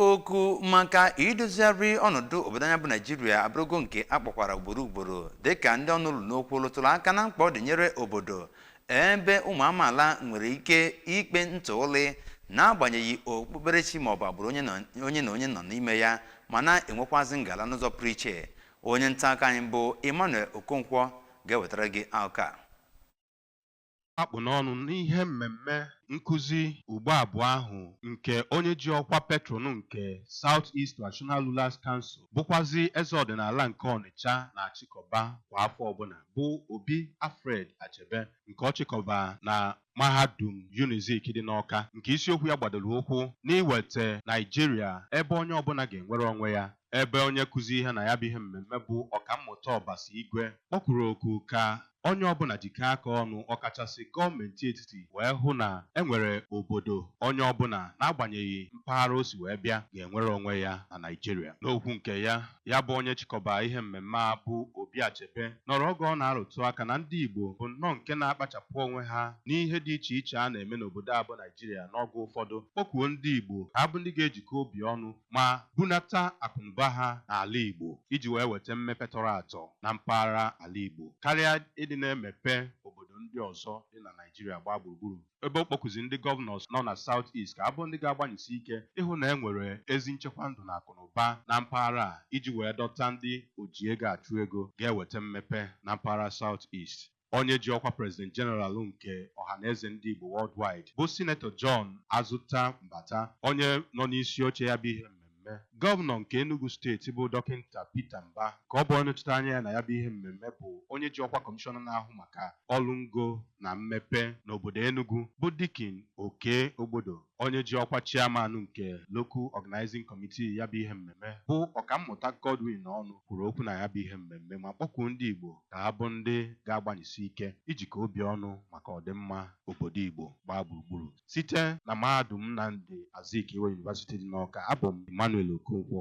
oku maka idozigharị ọnọdụ obodo anyị a bụ naijiria abụrụgo nke a kpọkwara ugboro ugboro dịka ndị ọnụ lu n'okwu lụtụrụ aka na mkpa ọ dị nyere obodo ebe ụmụ amaala nwere ike ikpe ntụụlị n'agbanyeghị okpukperechi maọbụ agbụrụ onye na onye nọ n'ime ya ma na-enwekwazi ngala n'ụzọ pụrụ iche onye nta akụkọ anyị bụ emmanuel okonkwo ga-ewetara gị akụkọ a a kpụ n'ọnụ n'ihe mmemme nkụzi ugbo abụọ ahụ nke onye ji ọkwa patron nke South East Traditional Rulers Council bụkwazi eze ọdịnala nke Ọnịcha na-achịkọba kwa afọ ọbụla bụ Obi Alfred Achebe nke ọ chịkọba na mahadum Unizik dị n'Ọka nke isiokwu ya gbadoro ụkwụ n'iweta Naijiria ebe onye ọbụla ga-enwere onwe ya ebe onye nkụzi ihe na ya bụ ihe mmemme bụ ọkammụta Ọbasi Igwe kpọkuru oku ka onye ọbụla jikọọ aka ọnụ ọkachasị gọọmenti etiti wee hụ na e nwere obodo onye ọbụla n'agbanyeghị mpaghara o si wee bịa ga-enwere onwe ya na Naịjirịa. N'okwu nke ya, ya bụ onye chịkọba ihe mmemme a bụ Obi Achebe nọrọ oge ọ na-arụtụ aka na ndị Igbo bụ nnọọ nke na-akpachapụ onwe ha n'ihe dị iche iche a na-eme n'obodo a bụ Naịjirịa n'oge ụfọdụ, kpọkuo ndị Igbo ka ha bụ ndị ga-ejikọ obi ọnụ ma bunata akụnụba ha n'ala Igbo iji wee weta mmepe tọrọ atọ na mpaghara ala Igbo karịa ịdị na-emepe obodo ndị ọzọ dị na Naịjirịa gbaa gburugburu ebe ọ kpọkuzi ndị gọvanọs nọ na South East ka ha bụ ndị ga-agbanyesi ike ịhụ na e nwere ezi nchekwa ndụ na akụnụba na mpaghara a iji wee dọta ndị oji ego achụ ego ga-eweta mmepe na mpaghara South East. Onye ji ọkwa President General nke Ohanaeze Ndị Igbo Worldwide bụ Sinetọ John Azuta Mbata, onye nọ n'isi oche ya bụ ihe mmemme. Gọvanọ nke Enugu steeti bụ Dọkịnta Peter Mbah ka ọ bụ onye nọchite anya ya na ya bụ ihe mmemme bụ onye ji ọkwa Kọmishọna na-ahụ maka ọrụ ngo na mmepe n'obodo Enugu bụ Dikin Okey Ogbodo. Onye ji ọkwa Chairman nke Local Organizing Committee ya bụ ihe mmemme bụ Ọkammụta Godwin Ọnụ kwuru okwu na ya bụ ihe mmemme ma kpọkuo ndị Igbo ka ha bụ ndị ga-agbanyesi ike ijikọ obi ọnụ maka ọdịmma obodo Igbo gbaa gburugburu site na Mahadum Nnamdi Azikiwe University dị n'Awka. Abụ m Emmanuel Okonkwo.